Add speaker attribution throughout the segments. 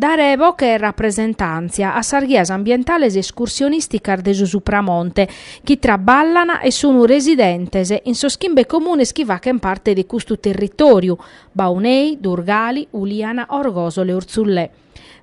Speaker 1: Dare boche e rapresentàntzia a sas ghias ambientales escursionìsticas de su Supramonte chi traballan e sun residentes in sos chimbe comunes chi faghen parte de custu territòriu, Baunei, Durgali, Uliana, Orgosole e Urzullè.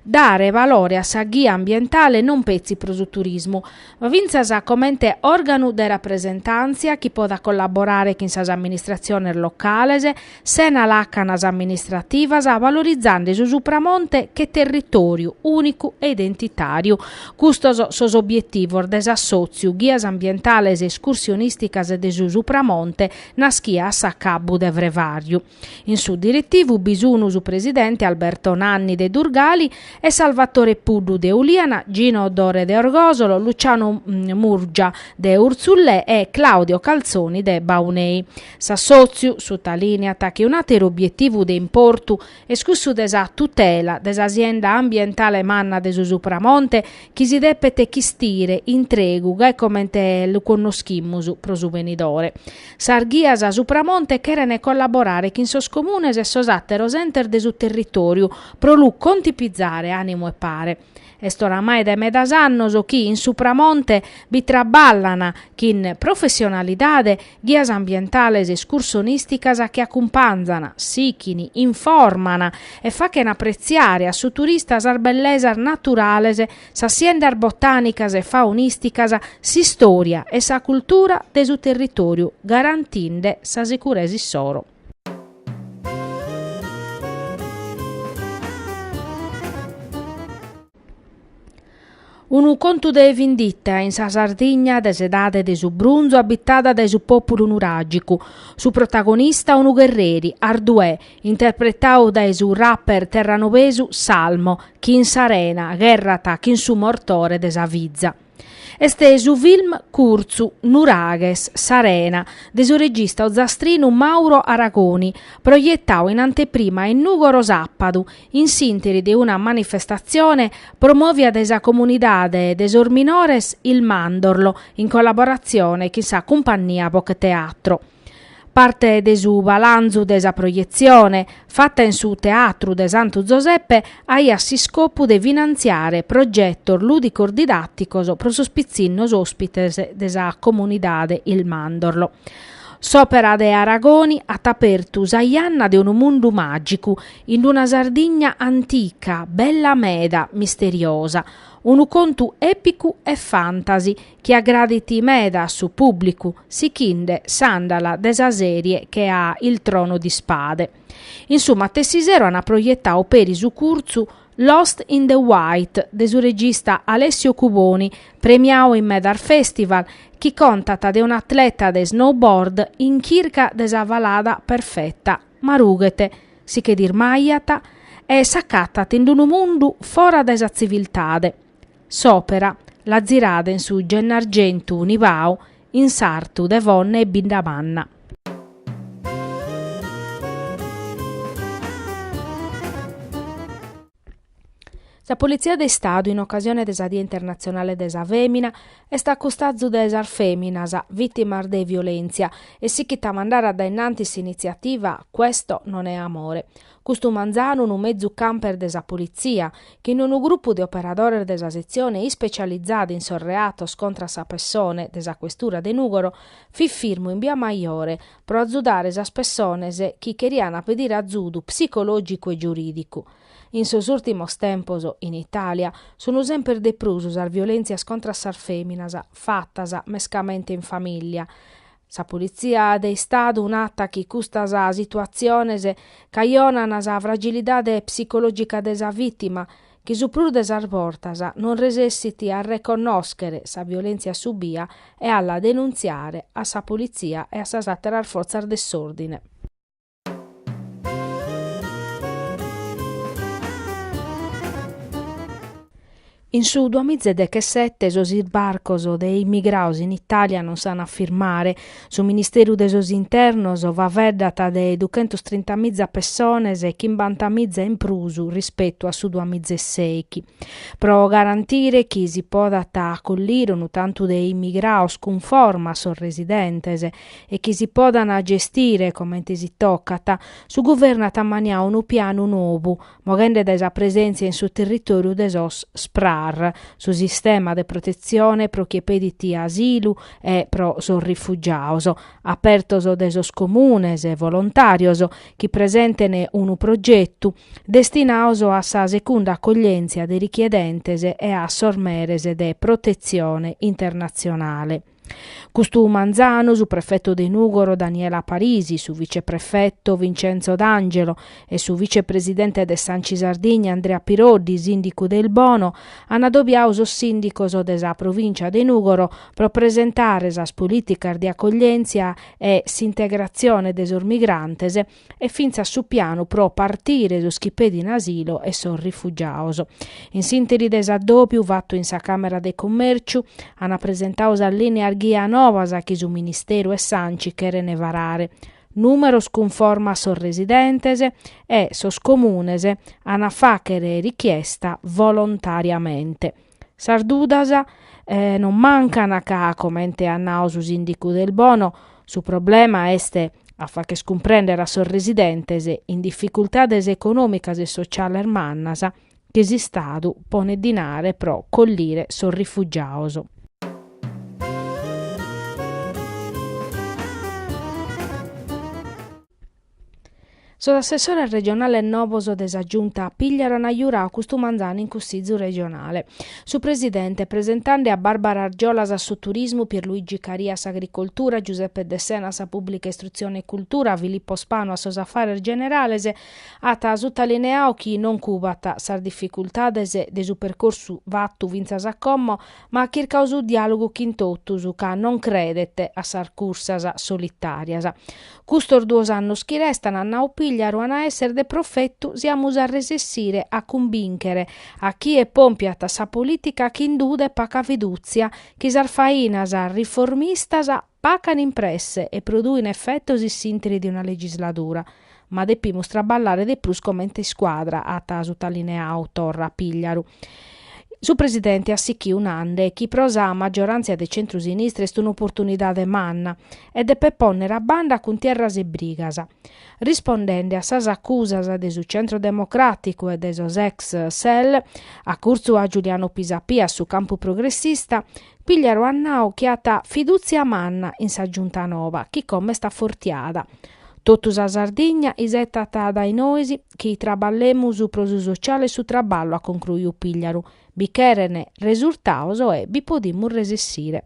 Speaker 1: Dare valore a sa ghia ambientale non petzi pro su turismu, ma fintzas comente òrganu de rapresentàntzia chi podat collaborare chin sas amministratziones locales, sena làcanas amministrativas, valorizande su Supramonte che territòriu ùnicu e identitàriu. Custos sos obietivos de s'assòtziu Ghias Ambientales Escursionìsticas de su Supramonte naschia a s'acabbu de frevàriu. In su diritivu bi sunu su presidente Alberto Nanni de Durgali e Salvatore Puddu de Uliana, Gino Dore de Orgosolo, Luciano Murgia de Urzullè e Claudio Calzoni de Baunei. S'assòtziu sutalìniat chi un'àteru obietivu de importu est cussu de sa tutela de sa sienda ambientale manna de su Supramonte chi si depet chistire intregu gai comente lu connoschimus pro su benidore. Sas ghias de Supramonte cherent collaborare chin sos comunes e sos àteros entes de su territòriu pro lu contipizare, a numen e pare. Est oramai dae medas annos chi in Supramonte bi traballan chin professionalidade ghias ambientales escursionìsticas chi acumpanzan, sichin, informan e fachen apretziare a su turista sas bellesas naturales sas siendas botànicas e faunìsticas, s'istòria e sa cultura de su territòriu garantinde sa sicuresa issoro. Unu contu de vindita in sa Sardigna de s'edade de su brunzu abitada dae su pòpulu nuràgicu. Su protagonista unu gherreri, Arduè, interpretau dae su rapper terranobesu Salmo, chi in s'arena gherrat chin su mortore de sa fiza. Est su film curtzu Nuraghes, s'arena, de su regista ozastrinu Mauro Aragoni, proietau in anteprima in Nùgoro sàpadu, in s'interi de una manifestatzione promòvia dae sa comunidade de sos minores Il Mandorlo in collaboratzione chin sa Cumpannia Bocheteatro. Parte de su balanzu de sa proietzione, fata in su Teatru de Santu Zoseppe, aiat s'iscopu de finantziare progetos lùdicos-didàticos pro sos pitzinnos òspites de sa Comunidade Il Mandorlo. S'Òpera de Aragoni at apertu sa janna de unu mundu màgicu, in una Sardigna antica, bella meda, misteriosa. Unu contu èpicu e fantasy, chi agradit meda a su pùblicu, sighinde s'àndala de sa sèrie che a Il trono di spade. In su matessi sero ant proietadu peri su curtzu Lost in the White de su regista Alessio Cuboni, premiau in medas festival, chi contat de un'atleta de snowboard in chirca de sa falada perfeta, ma rughet, si che dismajat, e s'acatat in unu mundu fora dae sa tziviltade. S'òpera l'at tzirada in su Gennargentu Nivau in sartu de Fonne e Biddamanna. Sa Politzia de Istadu in ocasione de sa Die Internatzionale de sa Fèmina est a custazu de sas fèminas vìtimas de violèntzia e sichit a mandare a dae innantis s'initziativa Questo non è amore. Custu manzanu unu mezu camper de sa Politzia, chin unu grupu de operadores de sa setzione ispecializada in sos reatos contra sa pessone de sa Questura de Nùgoro, fit firmu in Bia Maiore pro azudare sas pessones chi cherian pedire azudu psicològicu e giurìdicu. In sos ùrtimos tempos, in Itàlia, sunt semper de prus sas violèntzias contra sas fèminas, fatas mescamente in famìllia, Sa Politzia de Istadu narat chi custas situatziones cajonan sa fragilidade psicològica de sa vìtima, chi su prus de sas bortas non resessit a reconnòschere sa violèntzia subia e a la denuntziare a sa Politzia e a sas àteras fortzas de s'òrdine. In su duamizedechesete sos isbarcos de immigraos in Itàlia non s'an a firmare. Su Ministeru de sos Internos faeddat de duchentos trintamiza pessones, chimbantamiza in prus rispetu a su duamizeseichi. Pro garantire chi si podat acollire unu tantu de immigraos cunforma a sos residentes, e chi si podant gestire comente si tocat, su Guvernu at ammaniau unu pianu novu, moghende dae sa presèntzia in su territòriu de sos SPRAR, su sistema de protetzione pro chie pedit asilu e pro sos rifugiaos, apertos dae sos comunes e volontàrios chi presenten unu progetu, destinaos a sa secunda acoglièntzia de richiedentes e a sos meres de protetzione internatzionale. Custu manzanu, su prefetu de Nùgoro Daniela Parisi, su viceprefetu Vincenzo D'Angelo e su vicepresidente de s'Anci Sardigna Andrea Piroddi, sìndicu de Ilbono, an adobiadu sos sìndicos de sa provìncia de Nùgoro pro presentare sas polìticas de acoglièntzia e s'integratzione de sos migrantes e fintzas su pianu pro partire sos chi pedin asilo e sos rifugiados. In s'interi de s'addòbiu fatu in sa Càmera de Commèrciu, ant presentadu sas lìneas ghia novas chi su Ministeru e s'Anci cherent varare. Nùmeros cunforma a sos residentes e sos Comunes ant a fàghere richiesta volontàriamente. Sas dudas non mancan ca, comente at nadu su sìndicu de Ilbono, su problema est a fagher cumprender a sos residentes in dificultades econòmicas e sotziales mannas chi s'Istadu ponet dinare pro collire sos rifugiados. Sos assessores regionales novos de sa Giunta Pigliaru an giuradu custu manzanu in Cussizu regionale. Su presidente, presentende a Barbara Argiolas a su Turismu, Pierluigi Caria a s'Agricoltura, Giuseppe Dessena a sa Pùblica Istrutzione e Cultura, Filippo Spanu a sos Afares Generales, at sutalineadu chi non cubat sas dificultades de su percorsu fatu fintzas a como, ma at chircadu su diàlogu chin totus, ca non credet a sas cursas solitàrias. Custos duos annos chi restan at nau Pigliaru an a èssere de profetu si amus a resessire a cumbìnchere a chie pompiat sa polìtica chin duda e paca fidùtzia chi sas fainas riformistas pacan in presse e produin efetos in s'ìntiri de una legisladura. Ma depimus traballare de prus comente iscuadra, at sutalineadu torra Pigliaru. Su presidente at sichiu nande chi pro sa maggioràntzia de centru-sinistra est un'oportunidade manna e depet pònnere a banda cuntierras e brigas. Rispondende a sas acusas de su Centro Democràticu e de sos ex SEL, acurtzu a Giuliano Pisapia su campu progressista, Pigliaru at nau chi at fidùtzia manna in sa Giunta noba chi como est afortiada. Totu sa Sardigna isetat dae nois chi traballemus pro su sociale e su traballu, at concruiu Pigliaru, bi cheren resurtados e bi podimus resessire.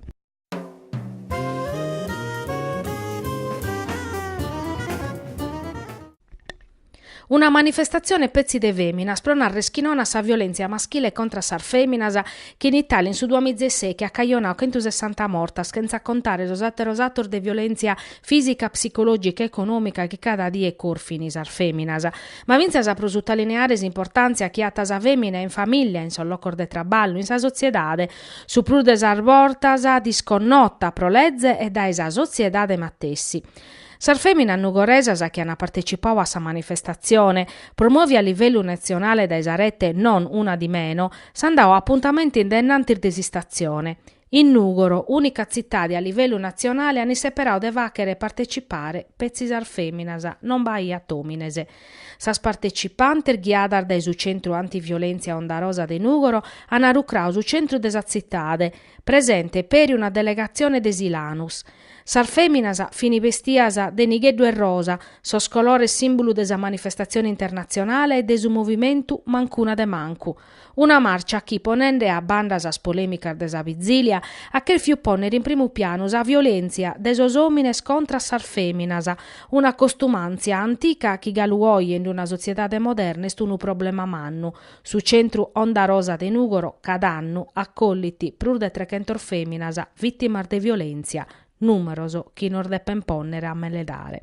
Speaker 1: Una manifestatzione petzi de fèminas pro narrer chi non a sa violèntzia maschile contra a sas fèminas chi in Itàlia in su duamiza e sèichi at cajonadu chentusessanta mortas chentza contare sos àteros atos de violèntzia fìsica, psicològica e econòmica chi cada die corfin sas fèminas. Ma fintzas pro sutalineare s'importàntzia chi at sa fèmina in famìllia, in sos locos de traballu, in sa sotziedade, su prus de sas bortas disconnota pro leze e dae sa sotziedade matessi. Sas fèminas nugoresas chi ant partetzipadu a sa manifestatzione, promòvia a livellu natzionale dae sa rete Non una di meno, s'ant dadu apuntamentu in dae innantis de s'istatzione. In Nùgoro, ùnica tzitade a livellu natzionale, an isseperadu de fàghere partetzipare petzi sas fèminas, non b'aiat òmines. Sas partecipantes, ghiadas dae su Centru Antiviolèntzia Onda Rosa de Nùgoro, an rucradu su centru de sa tzitade, presente peri una delegatzione de Silanus. Sas fèminas fin bestias de nigheddu e rosa, sos colores sìmbulu de sa manifestatzione internatzionale e de su movimentu Mancuna de Mancu, Una màrcia chi, ponende a banda sas polèmicas de sa vitzìlia, at chèrfiu pònnere in primu pianu sa violèntzia de sos òmines contra a sas fèminas, una costumàntzia antica chi galu oje in una sotziedade moderna est unu problema mannu. Su Centru Onda Rosa de Nùgoro, cada annu, acollit prus de trechentas fèminas vìtimas de violèntzia, Numeros chi nos depen ponnere a meledare.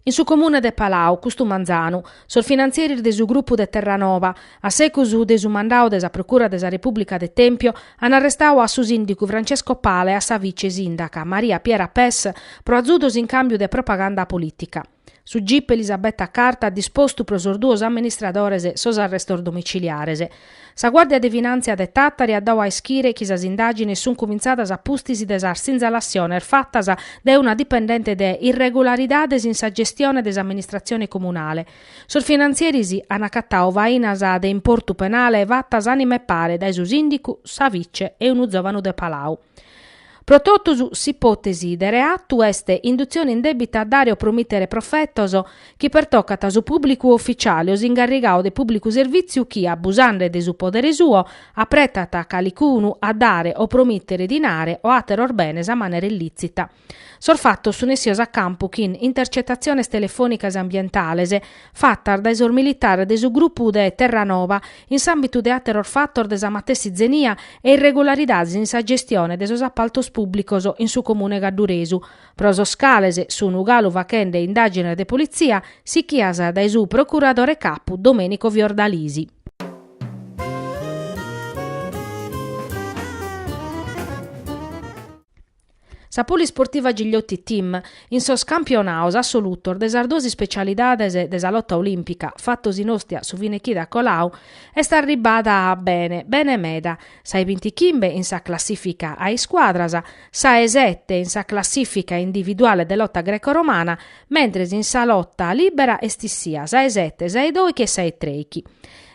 Speaker 1: In su comune de Palau, custu manzanu, sos finantzieris de su grupu de Terranoba, a segus de su mandadu de sa Procura de sa Repubblica de Tempio, an arrestadu a su sindigu Francesco Pala e a sa vice sindaca Maria Piera Pes pro azudos in cambiu de propaganda politica. Su gip Elisabetta Carta at dispostu pro sos duos amministradores sos arrestos domiciliares. Sa Guàrdia de Finàntzia de Tàtari at dadu a ischire chi sas indàgines sunt cumintzadas a pustis de sas sinzalassiones fatas dae una dipendente de irregularidades in sa gestione de s'amministratzione comunale. Sos finantzieris an acatadu fainas de importu penale fatas a manipare dae su sìndicu, sa vice e unu zòvanu de Palau. Pro totus s'ipòtesi de reatu est indutzione indèbita a dare o promìtere profetos chi pertocat su pùblicu oficiale o s'ingarrigadu de pùblicu servìtziu chi, abusende de su podere suo, apretat calicunu a dare o promìtere dinare o àteros benes a manera illìtzita. Sos fatos sun essios a campu chin intercetatziones telefònicas ambientales fatas dae sos militares de su grupu de Terranoba in s'àmbitu de àteros fatos de sa matessi zenia e irregularidades in sa gestione de sos apaltos pùblicos in su comune gadduresu, pro sos cales sun galu faghende indàgines de politzia sichias dae su procuradore capu Domenico Fiordalisi. Sa Polisportiva Gigliotti Team, in sos campionados assolutos de sas duas ispecialidades de sa lota olìmpica fatos in Ostia su fine chida colau, est arribbada bene, bene meda, sa 'e bintichimbe in sa classìfica a iscuadras, sa 'e sete in sa classìfica individuale de lota greco-romana, mentres in sa lota lìbera est issìa sa 'e sete, sa 'e doichi e sa 'e treichi.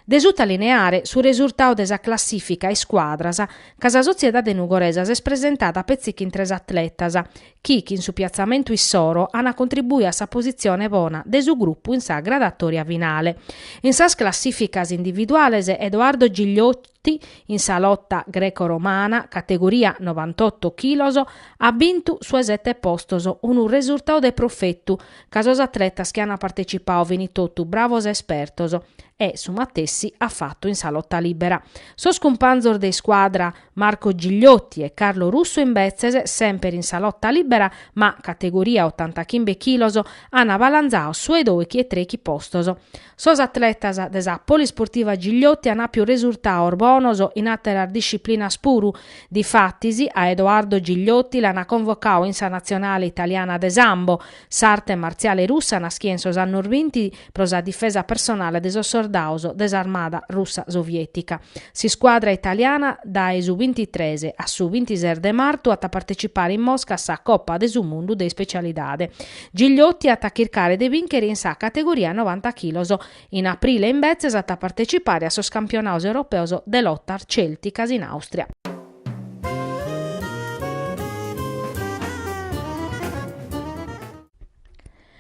Speaker 1: De sutalineare su resurtau de sa classìfica a iscuadras, ca sa sotziedade nugoresa s'est presentada petzi chin tres atletas, chi chin su piatzamentu issoro ana contribuiu a sa positzione bona de su grupu in sa gradatòria finale. In sas classìficas individuales Edoardo Gigliotti in sa lota greco-romana, categoria novantotto chilos, at bintu su 'e sette postos, unu resurtau de profetu, ca sos atletas chi an partecipadu fini totu bravos e espertos e su matessi at fatu in sa lota libera. Sos cumpanzos de iscuadra Marco Gigliotti e Carlo Russo imbetzes semper in sa lota libera ma categoria otantachimbe chilos ana balanzau su 'e doichi e treichi postos. Sos atletas de sa Polisportiva Gigliotti an àpiu resurtaos bonos in àteras disciplinas puru. Difatis, a Edoardo Gigliotti l'ana convocadu in sa natzionale italiana de Sambo, s'arte martziale russa naschida in sos annos binti pro sa difesa personale de sos sordados de s'armada russa sovietica. S'iscuadra italiana dae su bintitres a su bintises de martu at a partecipare in Mosca a sa Copa de su Mundu de Ispecialidade. Gigliotti at a chircare de bìnchere in sa categoria novanta chilos. In aprile imbetzes at a partecipare a sos campionados europeos de lotas cèlticas in Àustria.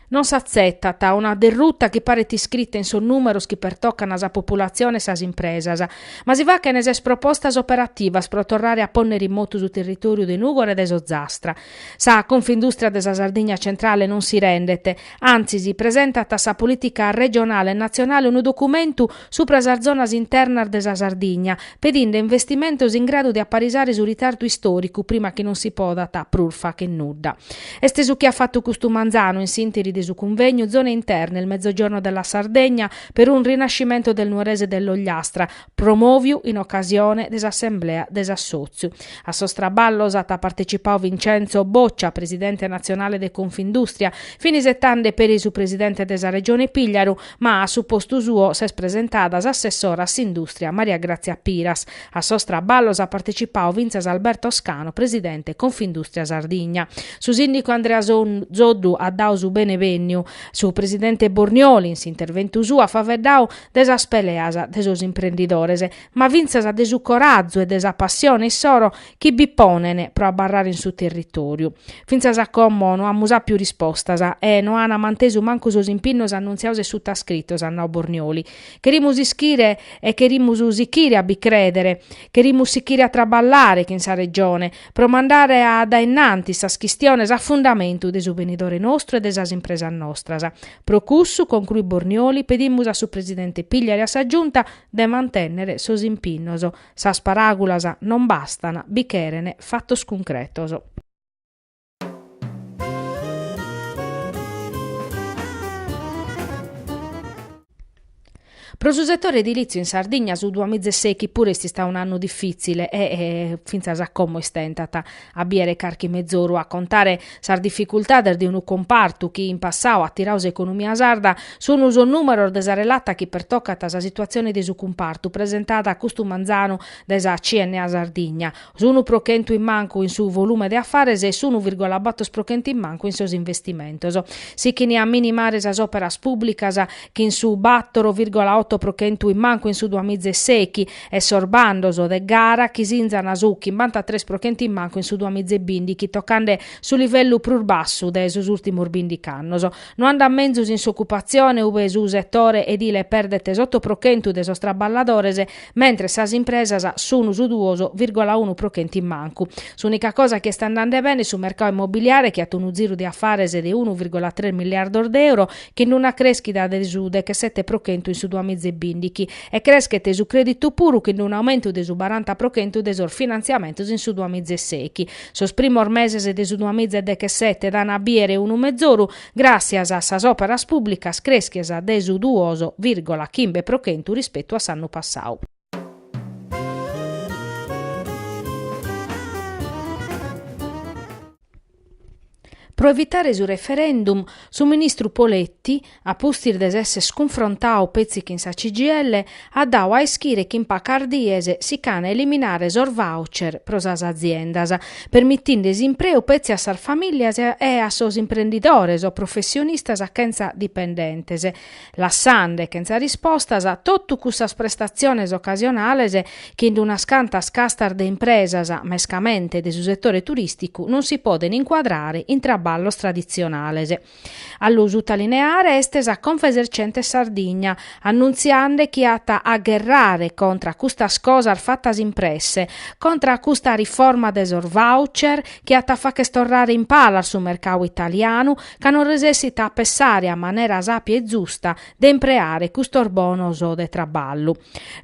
Speaker 1: Non s'atzetat una derruta chi paret iscrita in sos nùmeros chi pertocan sa populatzione e sas impresas. Ma si fachene ses propostas operativas pro torrare a pònnere in motu su territòriu de Nùgore e de s'Ozastra. Sa Confindùstria de sa Sardigna Centrale non si rendet, antzis presentat a sa polìtica regionale e natzionale unu documentu subra sas zonas internas de sa Sardigna, pedinde investimentos in gradu de aparisare su ritardu istòricu prima chi non si podat prus fàcher nudda. Est su chi at fatu custu manzanu in s'ìnteri de su cunvegnu Zone interne, il Mezzogiorno della Sardegna per un rinascimento del Nuorese dell'Ogliastra, promòviu in ocasione de s'assemblea de s'assòtziu. A sos traballos at partecipadu Vincenzo Boccia, presidente natzionale de Confindustria, fin isetande peri su presidente de sa Regione Pigliaru, ma a su postu suo s'est presentada s'assessora a s'indùstria Maria Grazia Piras. A sos traballos at partecipadu fintzas Alberto Scanu, presidente Confindustria Sardigna. Su sìndicu Andrea Soddu at dadu su benevènniu. Su presidente Bornioli, in s'interventu suo, at faveddau de sas peleas de sos imprendidores, ma fintzas de su corazu e de sa passione issoro chi bi ponen pro abarrare in su territòriu. Fintzas a como no amus àpiu rispostas e no an mantesu mancu sos impinnos annuntziaos e sutascritos, at nau Bornioli. Cherimus ischire e cherimus sichire a bi crèdere, cherimus sichire a traballare chin sa Regione, pro mandare a dae innantis sas chistiones a fundamentu de su benidore nostru e de sas impresas nostras. Pro cussu, concluit Bornioli, pedimus a su Presidente Pigliaru e a sa Giunta de mantènnere sos impinnos. Sas paràgulas non bastan, bi cheren fatos cuncretos. Pro su setore edilìtziu in Sardigna su duamizeseghi puru est istadu un'annu difìtzile e fintzas a como istentat a bìere carchi mezoru a contare sas dificultades de unu cumpartu chi in passau at tirau s'economia sarda sun sos nùmeros de sa relata chi pertocant sa situatzione de su cumpartu presentada custu manzanu dae sa CNA Sardigna, S'unu pro chentu in mancu in su volume de afares e s'unu virgola bator pro chentu in mancu in sos investimentos. Sichin a minimare sas òperas pùblicas, chin su bator virgola oto pro chentu in mancu in su duamiza e sechi, e sos bandos de gara, chi sinzan su chimbanta tres pro chentu in mancu in su duamiza e bìndichi, tocande su livellu prus bassu de sos ùrtimos bìndichi annos. No andat menzus in s'ocupatzione, ube su setore edile perdet s'oto pro chentu de sos traballadores, mentres sas impresas sunu su duos virgola unu pro chentu in mancu. S'ùnica cosa chi est andande bene est su mercau immobiliare chi at unu ziru de afares de unu virgola tres miliardos de euro chin una crèschida de su dechesete pro chentu in su duamiza e bìndichi e creschet su crèditu puru chin unu aumentu de su baranta pro chentu de sos finantziamentos in su duamiza e sechi. Sos primos meses de su duamiza e dechesete dan a bìere unu mezoru Gràtzias a sas òperas pùblicas crèschias de su duos vìrgola chimbe pro chentu rispetu a s'annu passadu. Pro evitare su referendum, su ministru Poletti, a pustis de s'èssere cunfrontau petzi chin sa CGIL, at dau a ischire chi in pacas dies si ch'an a eliminare sos voucher pro sas aziendas, permitinde s'impreu petzi a sas famìlias e a sos imprendidores o professionistas chentza dipendentes, lassande chentza rispostas totu cussas prestatziones ocasionales chi in unas cantas castas de impresas, mescamente de su setore turìsticu, non si podent incuadrare in traballos traditzionales. A lu sutalineare est sa Confesercenti Sardigna, annuntziande chi at a gherrare contra a custas cosas fatas in presse, contra a custa riforma de sos voucher chi at a fàcher torrare in palas su mercau italianu ca non resessit a pessare a manera sàpia e zusta de impreare custos bonos de traballu.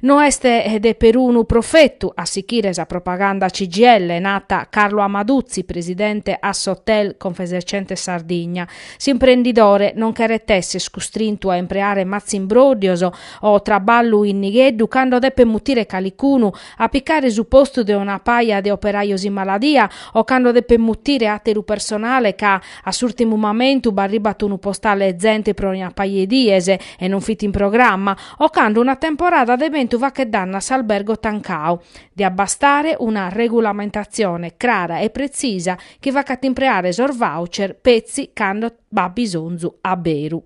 Speaker 1: No est de perunu profetu a sichire sa propaganda CGIL, nata Carlo Amaduzzi, presidente Assohotel Confesercentes Sardigna. S'imprendidore non cheret esser custrintu a impreare matzimbroddios o traballu in nigheddu cando depet mutire calicunu a picare su postu de una paja de operajos in maladia o cando depet mutire àteru personale ca A s'ùrtimu mamentu b'arribat unu postale 'e zente pro una paja 'e dies e non fit in programma, o cando una temporada de bentu faghet dannu a s'albergo tancau. Diat bastare una regulamentatzione crara e pretzisa chi facat impreare sos voucher petzi cando b'at bisonzu a beru.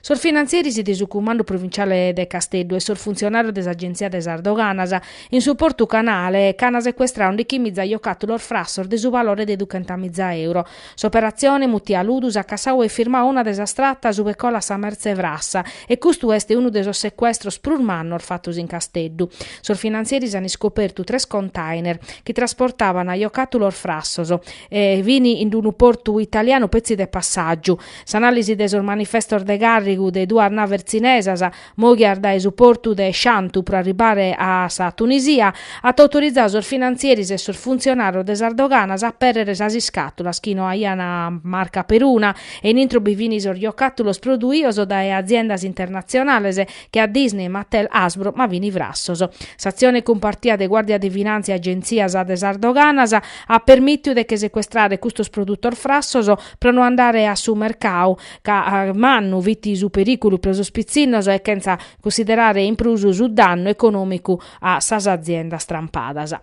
Speaker 1: Sos finantzieris de su Cumandu Provinciale de Casteddu e sos funtzionàrios de s'Agenzia de sas Doganas, in su Portu Canale, ch'an secuestrau undichimiza jocàtulos frassos de su valore de duchentamiza euro, S'operatzione, mutia Ludus, at cassau e firmau una de sas tratas ube colat sa mertze frassa e custu est unu de sos secuestros prus mannos fatos in Casteddu. Sos finantzieris an iscopertu tres container chi trasportaban jocàtulos frassos e fin in unu portu italianu petzi de passàgiu. S'anàlisi de sos manifestos de càrrigu de duas naves tzinesas Moghias dae su portu de Shantou pro arribare a sa Tunisia, at autorizau sos finantzieris e sos funtzionàrios de sas doganas a pèrrere sas iscàtulas chi no aian marca peruna e in intro bi fin sos jocàtulos produios dae aziendas internatzionales che a Disney, Mattel, Hasbro ma fin frassos. S'atzione cumpartia de Guàrdia de Finàntzia e Agentzias de sas Doganas at permìtiu de che secuestrare custos produtos frassos pro no andare a su mercau ca mannu fit su perìculu pro sos pitzinnos e chentza cussiderare in prus su dannu econòmicu a sas aziendas trampadas.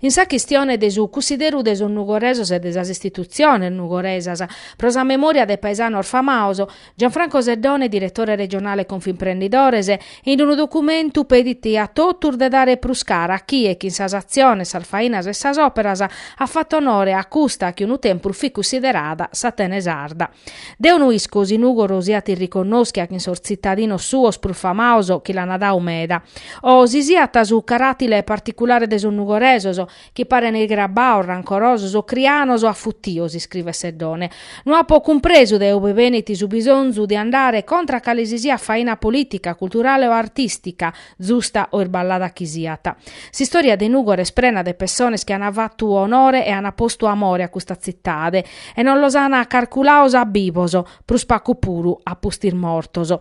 Speaker 1: In sa chistione de su cussideru de sos nugoresos e de sas istitutziones nugoresas pro sa memòria de paesanos famaos, Gianfranco Seddone, diretore regionale Confimprendidores, in unu documentu pedit a totus de dare prus cara a chie chin sas atziones, sas fainas e sas òperas at fatu onore a custa chi unu tempus fit cussiderada s'Atene sarda. Deo no isco si Nùgoro siat irriconnòschia chin sos tzitadinos suos prus famaos chi l'ant dau meda o si siat su caràtile particulare de sos nugoresos chi parent grabaos, rancorosos o crianos o afutios, iscrivet Seddone. No apo cumpresu de ube benit su bisonzu de andare contra a cale si siat faina polìtica, culturale o artìstica, zusta o irballada chi siat. S'istòria de Nùgoro est prena de pessones chi ant fatu onore e ant postu amore a custa tzitade e non los ant carculados a bibos, prus pacu puru a pustis mortos.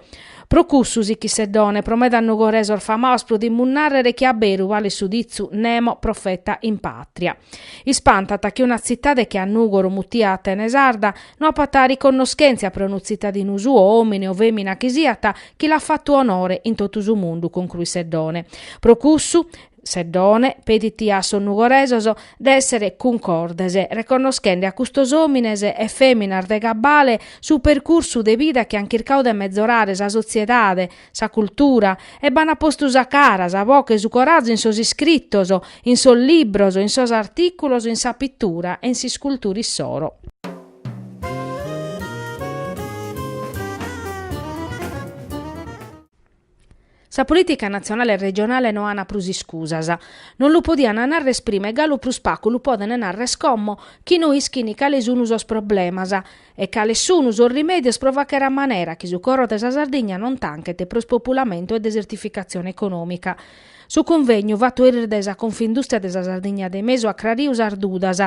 Speaker 1: Pro cussu si chi Seddone pro medas nugoresos famaos podimus nàrrere chi a beru balet su ditzu Nemo profeta in pàtria. Ispantat chi una tzitade chi a Nùgoro mutia Atene sarda no apat riconnoschèntzia pro unu tzitadinu suo, òmine o fèmina chi siat, chi l'at fatu onore in totu su mundu, concruit Seddone. Pro cussu, Seddone, pedit a sos nugoresos de èssere cuncordes, reconnoschende a custos òmines e fèminas de cabale su percursu de vida chi ant chircadu de mezorare sa sotziedade, sa cultura, e b'ant postu sa cara, sa boche e su corazu in sos iscritos, in sos libros, in sos artìculos, in sa pitura e in s'iscultura issoro. Sa polìtica natzionale e regionale no ant prus iscusas. Non lu podiant narrer prima e galu prus pagu lu podent narrer como chi no ischint cale sunt sos problemas e cales sunt sos rimèdios pro fàghere a manera chi su coro de sa Sardigna non tanchet pro ispopulamentu e desertificatzione econòmica. Su cunvegnu, fatu eris dae sa Confindùstria de sa Sardigna de Mesu, at acrariu sas dudas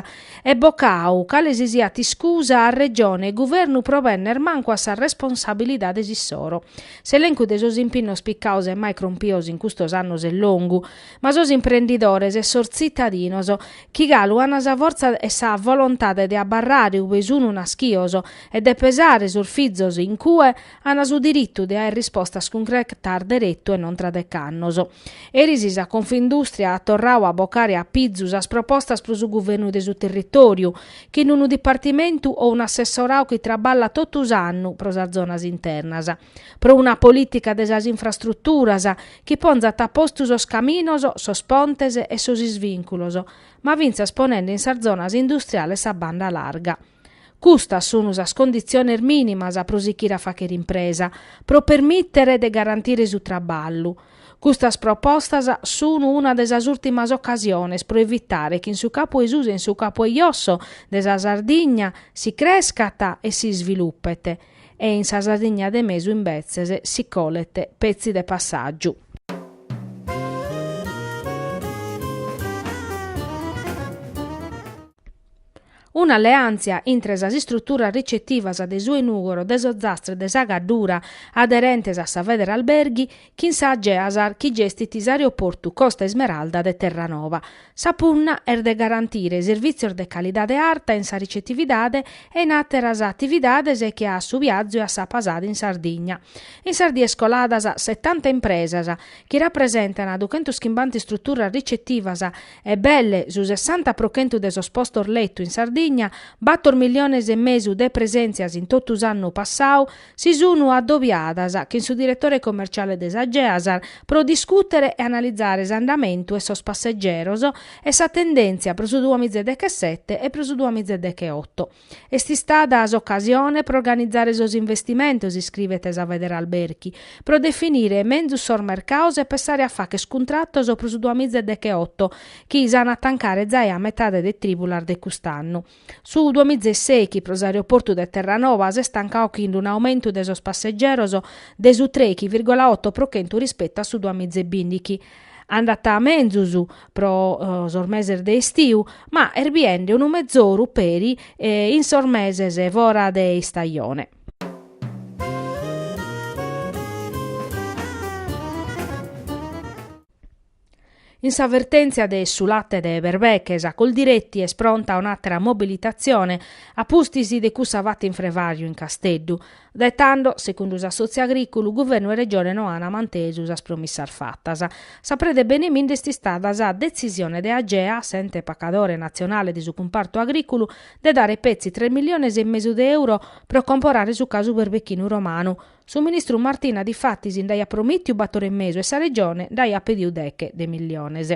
Speaker 1: e bocau cale si siat iscusa a Regione e Guvernu pro benner mancu a sas responsabilidades issoro. S'elencu de sos impinnos picados e mai crompidos in custos annos est longu, ma sos imprendidores e sos tzitadinos, chi galu an sa fortza e sa volontade de abarrare ue sun naschidos e de pesare sos fizos in cue, Ana su diritu de aer rispostas cuncretas deretu e non tra dec'annos. Eris sa Confindustria at torradu a bocare a pizu sas propostas pro su guvernu de su territòriu, chin unu dipartimentu o un'assessoradu chi traballat totu s'annu pro sas zonas internas, pro una polìtica de sas infrastruturas chi ponzat a postu sos caminos, sos pontes e sos isvìnculos, ma fintzas ponende in sas zonas industriales sa banda larga. Custas sunu sas conditziones minimas pro sichire a faghere impresa, pro permìtere de garantire su traballu. Custas propostas sunu una de sas ùltimas ocasiones pro evitare chi in su capu 'e susu e in su capu 'e josso de sa Sardigna si crescat e si isvilupet e in sa Sardigna de mesu imbetzes si colet petzi de passàgiu. Un'alleàntzia intre sas istruturas ricetivas de su 'e Nùgoro, de s'Ozastra e de sa Gaddura aderentes a sa Federalberghi chin sa Geasar chi gestit s'aeroportu Costa Ismeralda de Terranova. Sa punna est de garantire servìtzios de calidade arta in sa ricetividade e in àteras atividades che su biazu e sa pasada in Sardigna. In sas dies coladas setanta impresas, chi rapresentan duchentos chimbanta istruturas ricetivas, E belle, su sessanta pro chentu de sos postos letu in Sardigna, bator milliones e mesu de presèntzias in totu s'annu passau, si sun adobiadas chin su diretore commerciale de sa Geasar pro discùtere e analizare s'andamentu 'e sos passegeros e sa tendèntzia pro su duamiza e dechesete e pro su duamiza e decheoto. Est istada s'ocasione pro organizare sos investimentos, iscrivet sa Federalberghi, pro definire menzus sos mercaos e pensare a fàcher cuntratos pro su duamiza e decheoto, chi s'an a tancare zai a metade de trìbulas de cust'annu. Su duamiza e sèichi pro s'aeroportu de Terranova s'est tancau chin un'aumentu de sos passegeros de su trèichi vìrgola oto pro chentu rispetu a su duamiza e bìndichi. Andat menzus pro sos meses de estiu, ma est biende unu mezoru peri in sos meses fora de istajone. In sa vertèntzia de su late de berbeche sa Coldiretti est pronta a un'àtera mobilitatzione a pustis de cussa fata in Frevàriu, in Casteddu. Dae tando, segundu s'assòtziu agrìculu, guvernu e Regione no ant mantesu sas promissas fatas. Sa preda 'e beneminde est istada sa detzisione de Agea, s'ente pacadore natzionale de su cumpartu agrìculu, de dare petzi tres milliones e mesu de euro pro comporare su casu berbechinu romanu. Su ministru Martina difatis nd'aiat promìtiu bator e mesu e sa Regione nd'aiat pediu deche de milliones.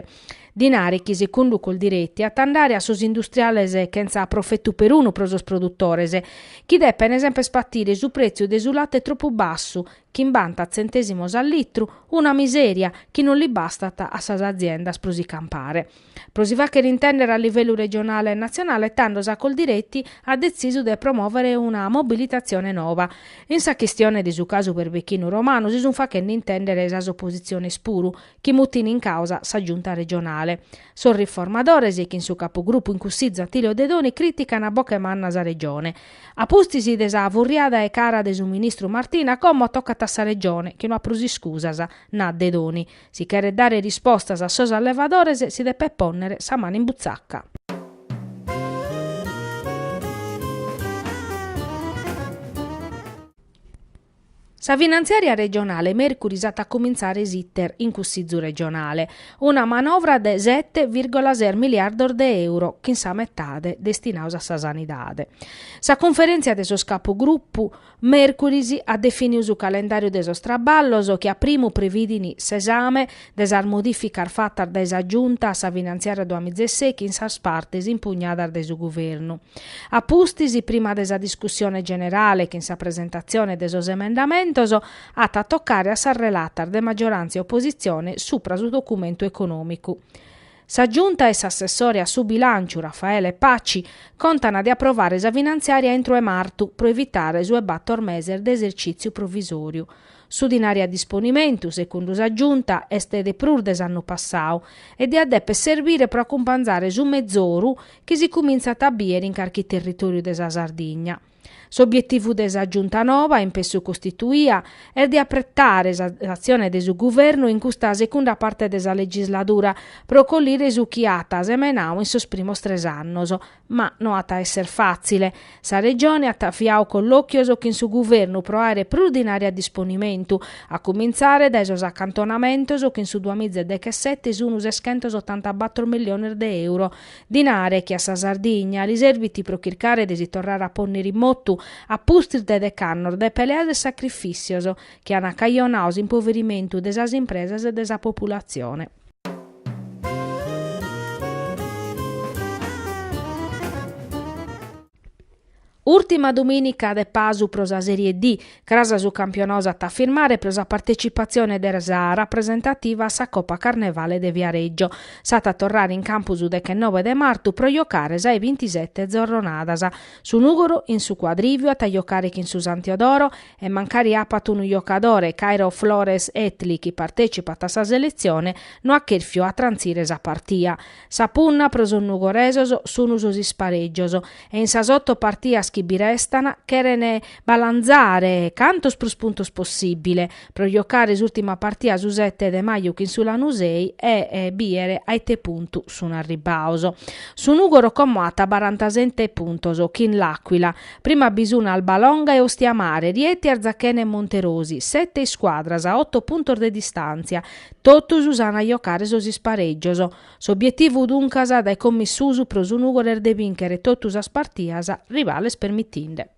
Speaker 1: Dinari chi sicundu Coldiretti at a andare a sos industriales chentza profetu perunu pro sos produtores, chi depen semper patire su pretziu de su late tropu bassu, chimbanta tzentèsimos a litru, una miseria chi non li bastat a sas aziendas pro si campare. Pro si fàchere intèndere a livellu regionale e natzionale tando sa Coldiretti at detzisu de promòvere una mobilitatzione nova. In sa chistione de su casu berbechinu romanu si sunt fachende intèndere sas opositziones puru, chi mutin in càusa sa Giunta regionale. Sos riformadores, chin su capugrupu in Cussizu Attilio Dedoni crìtican a boche manna sa Regione. A pustis de sa furriada 'e cara de su ministru Martina como tocat a sa Regione chi no at prus iscusas, naat Dedoni, si cheret dare rispostas a sos allevadores si depet pònnere sa manu in butzaca. Sa finantziària regionale mèrcuris at a cumintzare s'iter in Cussizu regionale, una manovra de sete vìrgola ses miliardos de euro, chin sa metade destinaos a sa sanidade. Sa cunferèntzia de sos capugrupu mèrcuris at definiu su calendàriu de sos traballos chi a primu previdin s'esame de sas modìficas fatas dae sa Giunta a sa finantziària duamiza e sechi in sas partes impugnadas dae su Guvernu. A pustis, prima de sa discussione generale chin sa presentatzione de sos emendamentos, at a tocare a sas relatas de maggiorantzia e opositzione supra su documentu econòmicu. Sa Giunta e s'assessore a su bilànciu Raffaele Paci contan de aprovare sa finantziària intro 'e martu pro evitare su 'e bator meses de esercìtziu provisòriu. Su dinari a disponimentu, segundu sa Giunta, est de prus de s'annu passau e diat dèpere serbire pro acumpanzare su mezoru chi si cumintzat a bìere in carchi territòriu de sa Sardigna. S'obietivu de sa Giunta noba, in pessu costituia, est de apretare sa s'atzione de su Guvernu in custa segunda parte de sa legisladura pro collire su chi at semenau in sos primos tres annos, Ma no at a esser fàtzile. Sa Regione at aviau collòchios chin su Guvernu pro àere prus dinari a disponimentu, a cumintzare dae sos acantonamentos chi in su duamiza e dechesete sun seschentos otantabator milliones de euro. Dinare chi a sa Sardigna li serbit pro chircare de si torrare a pònnere in motu, a pustis de dec'annos de peleas e sacrifìtzios chi an acajonau s'impoverimentu de sas impresas e de sa populatzione. Ùrtima dumìnica de pasu pro sa Sèrie D, cras su campionau s'at a firmare pro sa partetzipatzione de sa rapresentativa a sa Copa Carnevale de Viareggio. S'at a torrare in campu su dechenobe de martu pro jocare sa 'e bintisete zorronadas. Su Nùgoro in su Cuadrìviu at a jocare chin su San Teodoro e mancari apat unu jocadore, Kayro Flores Heatley, chi partècipat a sa seletzione, no at chèrfiu a trantzire sa partia. Sa punna pro sos nugoresos sun sos isparègios e in sas oto partias chi bi restan cheren balantzare cantos prus puntos possìbile pro jocare s'ùrtima partia su sete de maju chin su Lanusei e bìere a ite puntu sun arribaos. Su Nùgoro como at barantasete puntos chin L'Aquila, Prima bi sun Albalonga e Ostiamare, Rieti Arzachena e Monterosi, sete iscuadras a oto puntos de distàntzia, totus s'an a jocare sos isparègios. S'obietivu duncas dae como in susu pro su Nùgoro est de bìnchere totu sas partias, rivales permitinde.